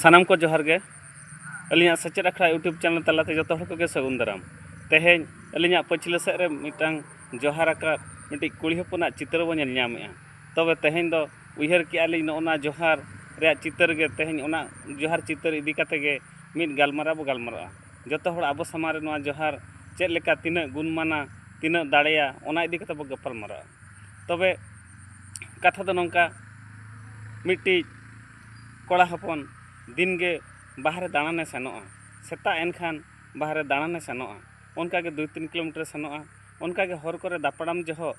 ᱥᱟᱱᱟᱢ ᱠᱚ ᱡᱚᱦᱟᱨ ᱜᱮ ᱟᱹᱞᱤᱧᱟᱜ ᱥᱮᱪᱮᱫ ᱟᱠᱷᱲᱟ ᱤᱭᱩᱴᱩᱵᱽ ᱪᱮᱱᱮᱞ ᱛᱟᱞᱟᱛᱮ ᱡᱚᱛᱚ ᱦᱚᱲ ᱠᱚᱜᱮ ᱥᱟᱹᱜᱩᱱ ᱫᱟᱨᱟᱢ ᱛᱮᱦᱮᱧ ᱟᱹᱞᱤᱧᱟᱜ ᱯᱟᱹᱪᱷᱞᱟᱹ ᱥᱮᱫ ᱨᱮ ᱢᱤᱫᱴᱟᱝ ᱡᱚᱦᱟᱨ ᱟᱠᱟᱫ ᱢᱤᱫᱴᱤᱡ ᱠᱩᱲᱤ ᱦᱚᱯᱚᱱᱟᱜ ᱪᱤᱛᱟᱹᱨ ᱵᱚᱱ ᱧᱮᱞ ᱧᱟᱢᱮᱜᱼᱟ ᱛᱚᱵᱮ ᱛᱮᱦᱮᱧ ᱫᱚ ᱩᱭᱦᱟᱹᱨ ᱠᱮᱜᱼᱟ ᱞᱤᱧ ᱱᱚᱜᱼᱚ ᱱᱟ ᱡᱚᱦᱟᱨ ᱨᱮᱭᱟᱜ ᱪᱤᱛᱟᱹᱨ ᱜᱮ ᱛᱮᱦᱮᱧ ᱚᱱᱟ ᱡᱚᱦᱟᱨ ᱪᱤᱛᱟᱹᱨ ᱤᱫᱤ ᱠᱟᱛᱮᱫ ᱜᱮ ᱢᱤᱫ ᱜᱟᱞᱢᱟᱨᱟᱣ ᱵᱚᱱ ᱜᱟᱞᱢᱟᱨᱟᱜᱼᱟ ᱡᱚᱛᱚ ᱦᱚᱲ ᱟᱵᱚ ᱥᱟᱢᱟᱝ ᱨᱮ ᱱᱚᱣᱟ ᱡᱚᱦᱟᱨ ᱪᱮᱫ ᱞᱮᱠᱟ ᱛᱤᱱᱟᱹᱜ ᱜᱩᱱᱢᱟᱱᱟ ᱛᱤᱱᱟᱹᱜ ᱫᱟᱲᱮᱭᱟ ᱚᱱᱟ ᱤᱫᱤ ᱠᱟᱛᱮᱫ ᱵᱚᱱ ᱜᱟᱯᱟᱞᱢᱟᱨᱟᱜᱼᱟ ᱛᱚᱵᱮ ᱠᱟᱛᱷᱟ ᱫᱚ ᱱᱚᱝᱠᱟ ᱢᱤᱫᱴᱤᱡ ᱠᱚᱲᱟ ᱦᱚᱯᱚᱱ ᱫᱤᱱ ᱜᱮ ᱵᱟᱦᱨᱮ ᱫᱟᱬᱟᱱᱮ ᱥᱮᱱᱚᱜᱼᱟ ᱥᱮᱛᱟᱜ ᱮᱱ ᱠᱷᱟᱱ ᱵᱟᱦᱨᱮ ᱫᱟᱬᱟᱱᱮ ᱥᱮᱱᱚᱜᱼᱟ ᱚᱱᱠᱟ ᱜᱮ ᱫᱩᱭ ᱛᱤᱱ ᱠᱤᱞᱳᱢᱤᱴᱟᱨᱮ ᱥᱮᱱᱚᱜᱼᱟ ᱚᱱᱠᱟ ᱜᱮ ᱦᱚᱨ ᱠᱚᱨᱮ ᱫᱟᱯᱨᱟᱢ ᱡᱚᱦᱚᱜ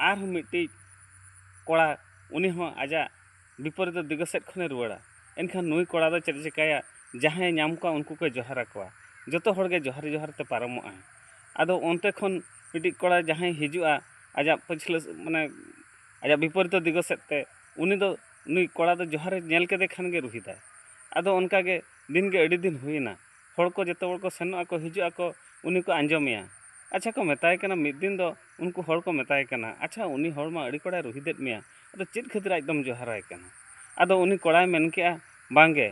ᱟᱨᱦᱚᱸ ᱢᱤᱫᱴᱤᱡ ᱠᱚᱲᱟ ᱩᱱᱤ ᱦᱚᱸ ᱟᱡᱟᱜ ᱵᱤᱯᱚᱨᱤᱛᱚ ᱫᱤᱜᱚ ᱥᱮᱫ ᱠᱷᱚᱱᱮ ᱨᱩᱣᱟᱹᱲᱟ ᱮᱱᱠᱷᱟᱱ ᱱᱩᱭ ᱠᱚᱲᱟ ᱫᱚ ᱪᱮᱫ ᱮ ᱪᱤᱠᱟᱹᱭᱟ ᱡᱟᱦᱟᱸᱭᱮ ᱧᱟᱢ ᱠᱚᱣᱟ ᱩᱱᱠᱩ ᱠᱚᱭ ᱡᱚᱦᱟᱨ ᱟᱠᱚᱣᱟ ᱡᱚᱛᱚ ᱦᱚᱲ ᱜᱮ ᱡᱚᱦᱟᱨ ᱡᱚᱦᱟᱨ ᱛᱮ ᱯᱟᱨᱚᱢᱚᱜ ᱟᱭ ᱟᱫᱚ ᱚᱱᱛᱮ ᱠᱷᱚᱱ ᱢᱤᱫᱴᱤᱡ ᱠᱚᱲᱟ ᱡᱟᱦᱟᱸᱭ ᱦᱤᱡᱩᱜᱼᱟ ᱟᱡᱟᱜ ᱯᱟᱹᱪᱷᱞᱟᱹ ᱢᱟᱱᱮ ᱟᱡᱟᱜ ᱵᱤᱯᱚᱨᱤᱛᱚ ᱫᱤᱜᱚ ᱥᱮᱫ ᱛᱮ ᱩᱱᱤ ᱫᱚ ᱱᱩᱭ ᱠᱚᱲᱟ ᱫᱚ ᱡᱚᱦᱟᱨᱮ ᱧᱮᱞ ᱠᱮᱫᱮ ᱠᱷᱟᱱ ᱜᱮ ᱨᱩᱦᱮᱫᱟᱭ ᱟᱫᱚ ᱚᱱᱠᱟ ᱜᱮ ᱫᱤᱱ ᱜᱮ ᱟᱹᱰᱤ ᱫᱤᱱ ᱦᱩᱭᱮᱱᱟ ᱦᱚᱲ ᱠᱚ ᱡᱚᱛᱚ ᱦᱚᱲ ᱠᱚ ᱥᱮᱱᱚᱜ ᱟᱠᱚ ᱦᱤᱡᱩᱜ ᱟᱠᱚ ᱩᱱᱤ ᱠᱚ ᱟᱸᱡᱚᱢᱮᱭᱟ ᱟᱪᱪᱷᱟ ᱠᱚ ᱢᱮᱛᱟᱭ ᱠᱟᱱᱟ ᱢᱤᱫ ᱫᱤᱱ ᱫᱚ ᱩᱱᱠᱩ ᱦᱚᱲ ᱠᱚ ᱢᱮᱛᱟᱭ ᱠᱟᱱᱟ ᱟᱪᱪᱷᱟ ᱩᱱᱤ ᱦᱚᱲ ᱢᱟ ᱟᱹᱰᱤ ᱠᱚᱲᱟᱭ ᱨᱩᱦᱮᱫᱮᱫ ᱢᱮᱭᱟ ᱟᱫᱚ ᱪᱮᱫ ᱠᱷᱟᱹᱛᱤᱨ ᱟᱡ ᱫᱚᱢ ᱡᱚᱦᱟᱨᱟᱭ ᱠᱟᱱᱟ ᱟᱫᱚ ᱩᱱᱤ ᱠᱚᱲᱟᱭ ᱢᱮᱱ ᱠᱮᱜᱼᱟ ᱵᱟᱝ ᱜᱮ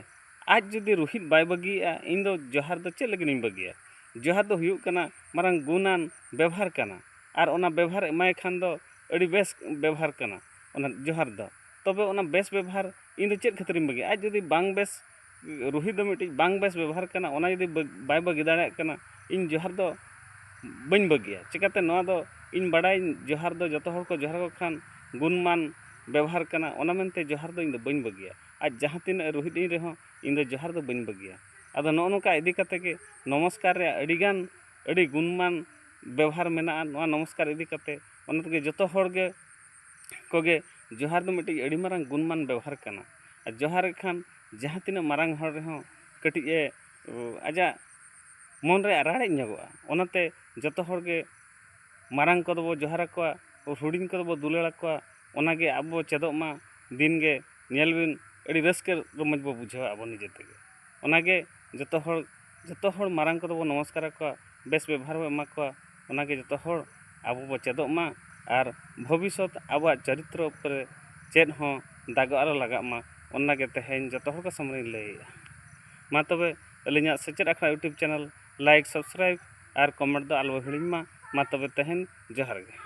ᱟᱡ ᱡᱩᱫᱤ ᱨᱩᱦᱤᱫ ᱵᱟᱭ ᱵᱟᱹᱜᱤᱭᱮᱜᱼᱟ ᱤᱧ ᱫᱚ ᱡᱚᱦᱟᱨ ᱫᱚ ᱪᱮᱫ ᱞᱟᱹᱜᱤᱫ ᱤᱧ ᱵᱟᱹᱜᱤᱭᱟ ᱡᱚᱦᱟᱨ ᱫᱚ ᱦᱩᱭᱩᱜ ᱠᱟᱱᱟ ᱢᱟᱨᱟᱝ ᱜᱩᱱᱟᱱ ᱵᱮᱵᱷᱟᱨ ᱠᱟᱱᱟ ᱟᱨ ᱚᱱᱟ ᱵᱮᱵᱷᱟᱨ ᱮᱢᱟᱭ ᱠᱷᱟᱱ ᱫᱚ ᱟᱹᱰᱤ ᱵᱮᱥ ᱵᱮᱵᱷᱟᱨ ᱠᱟᱱᱟ ᱚᱱᱟ ᱡᱚᱦᱟᱨ ᱫᱚ ᱛᱚᱵᱮ ᱚᱱᱟ ᱵᱮᱥ ᱵᱮᱵᱷᱟᱨ ᱤᱧ ᱫᱚ ᱪᱮᱫ ᱠᱷᱟᱹᱛᱤᱨ ᱤᱧ ᱵᱟᱹᱜᱤᱭᱟ ᱟᱡ ᱡᱩᱫᱤ ᱵᱟᱝ ᱵᱮᱥ ᱨᱩᱦᱤ ᱫᱚ ᱢᱤᱫᱴᱤᱡ ᱵᱟᱝ ᱵᱮᱥ ᱵᱮᱵᱚᱦᱟᱨ ᱠᱟᱱᱟ ᱚᱱᱟ ᱡᱩᱫᱤ ᱵᱟᱭ ᱵᱟᱹᱜᱤ ᱫᱟᱲᱮᱭᱟᱜ ᱠᱟᱱᱟ ᱤᱧ ᱡᱚᱦᱟᱨ ᱫᱚ ᱵᱟᱹᱧ ᱵᱟᱹᱜᱤᱭᱟ ᱪᱤᱠᱟᱹᱛᱮ ᱱᱚᱣᱟ ᱫᱚ ᱤᱧ ᱵᱟᱰᱟᱭᱟᱹᱧ ᱡᱚᱦᱟᱨ ᱫᱚ ᱡᱚᱛᱚ ᱦᱚᱲ ᱠᱚ ᱡᱚᱦᱟᱨ ᱟᱠᱚ ᱠᱷᱟᱱ ᱜᱩᱱᱢᱟᱱ ᱵᱮᱵᱚᱦᱟᱨ ᱠᱟᱱᱟ ᱚᱱᱟ ᱢᱮᱱᱛᱮ ᱡᱚᱦᱟᱨ ᱫᱚ ᱤᱧ ᱫᱚ ᱵᱟᱹᱧ ᱵᱟᱹᱜᱤᱭᱟ ᱟᱡ ᱡᱟᱦᱟᱸ ᱛᱤᱱᱟᱹᱜ ᱨᱩᱦᱤᱫ ᱤᱧ ᱨᱮᱦᱚᱸ ᱤᱧ ᱫᱚ ᱡᱚᱦᱟᱨ ᱫᱚ ᱵᱟᱹᱧ ᱵᱟᱹᱜᱤᱭᱟ ᱟᱫᱚ ᱱᱚᱜᱼᱚ ᱱᱚᱝᱠᱟ ᱤᱫᱤ ᱠᱟᱛᱮᱫ ᱜᱮ ᱱᱚᱢᱚᱥᱠᱟᱨ ᱨᱮᱭᱟᱜ ᱟᱹᱰᱤ ᱜᱟᱱ ᱟᱹᱰᱤ ᱜᱩᱱᱢᱟᱱ ᱵᱮᱵᱚᱦᱟᱨ ᱢᱮᱱᱟᱜᱼᱟ ᱱᱚᱣᱟ ᱱᱚᱢᱚᱥᱠᱟᱨ ᱤᱫᱤ ᱠᱟᱛᱮᱫ ᱚᱱᱟ ᱛᱮᱜᱮ ᱡᱚᱛᱚ ᱦᱚᱲ ᱜᱮ ᱠᱚᱜᱮ ᱡᱚᱦᱟᱨ ᱫᱚ ᱢᱤᱫᱴᱤᱡ ᱟᱹᱰᱤ ᱢᱟᱨᱟᱝ ᱜᱩᱱᱢᱟᱱ ᱵᱮᱣᱦᱟᱨ ᱠᱟᱱᱟ ᱟᱨ ᱡᱚᱦᱟᱨ ᱮᱫ ᱠᱷᱟᱱ ᱡᱟᱦᱟᱸ ᱛᱤᱱᱟᱹᱜ ᱢᱟᱨᱟᱝ ᱦᱚᱲ ᱨᱮᱦᱚᱸ ᱠᱟᱹᱴᱤᱡ ᱮ ᱟᱡᱟᱜ ᱢᱚᱱ ᱨᱮ ᱨᱟᱲᱮᱡ ᱧᱚᱜᱚᱜᱼᱟ ᱚᱱᱟᱛᱮ ᱡᱚᱛᱚ ᱦᱚᱲ ᱜᱮ ᱢᱟᱨᱟᱝ ᱠᱚᱫᱚ ᱵᱚᱱ ᱡᱚᱦᱟᱨ ᱟᱠᱚᱣᱟ ᱦᱩᱰᱤᱧ ᱠᱚᱫᱚ ᱵᱚᱱ ᱫᱩᱞᱟᱹᱲ ᱟᱠᱚᱣᱟ ᱚᱱᱟ ᱜᱮ ᱟᱵᱚ ᱵᱚᱱ ᱪᱮᱫᱚᱜ ᱢᱟ ᱫᱤᱱ ᱜᱮ ᱧᱮᱞ ᱵᱤᱱ ᱟᱹᱰᱤ ᱨᱟᱹᱥᱠᱟᱹ ᱨᱚᱢᱚᱡᱽ ᱵᱚᱱ ᱵᱩᱡᱷᱟᱹᱣᱟ ᱟᱵᱚ ᱱᱤᱡᱮ ᱛᱮᱜᱮ ᱚᱱᱟ ᱜᱮ ᱡᱚᱛᱚ ᱦᱚᱲ ᱡᱚᱛᱚ ᱦᱚᱲ ᱢᱟᱨᱟᱝ ᱠᱚᱫᱚ ᱵᱚᱱ ᱱᱚᱢᱚᱥᱠᱟᱨ ᱟᱠᱚᱣᱟ ᱵᱮᱥ ᱵᱮᱵᱚᱦᱟᱨ ᱵᱚᱱ ᱮᱢᱟ ᱠᱚᱣᱟ ᱚᱱᱟ ᱜᱮ ᱡᱚᱛᱚ ᱦᱚᱲ ᱟᱵᱚ ᱵᱚᱱ ᱪᱮᱫᱚᱜ ᱢᱟ ᱟᱨ ᱵᱷᱚᱵᱤᱥᱥᱚᱛ ᱟᱵᱚᱣᱟᱜ ᱪᱟᱨᱤᱛᱨᱚ ᱩᱯᱚᱨᱮ ᱪᱮᱫ ᱦᱚᱸ ᱫᱟᱜᱚᱜ ᱟᱞᱚ ᱞᱟᱜᱟᱜ ᱢᱟ ᱚᱱᱟ ᱜᱮ ᱛᱮᱦᱮᱧ ᱡᱚᱛᱚ ᱦᱚᱲ ᱠᱚ ᱥᱟᱢᱟᱝ ᱨᱤᱧ ᱞᱟᱹᱭᱮᱫᱼᱟ ᱢᱟ ᱛᱚᱵᱮ ᱟᱹᱞᱤᱧᱟᱜ ᱥᱮᱪᱮᱫ ᱟᱠᱷᱲᱟ ᱤᱭᱩᱴᱩᱵᱽ ᱪᱮᱱᱮᱞ ᱞᱟᱭᱤᱠ ᱥᱟᱵᱥᱠᱨᱟᱭᱤᱵᱽ ᱟᱨ ᱠᱚᱢᱮᱱᱴ ᱫᱚ ᱟᱞᱚ ᱵᱚᱱ ᱦᱤᱲᱤᱧ ᱢᱟ ᱢᱟ ᱛᱚᱵᱮ ᱛᱮᱦᱮᱧ ᱡᱚᱦᱟᱨ ᱜᱮ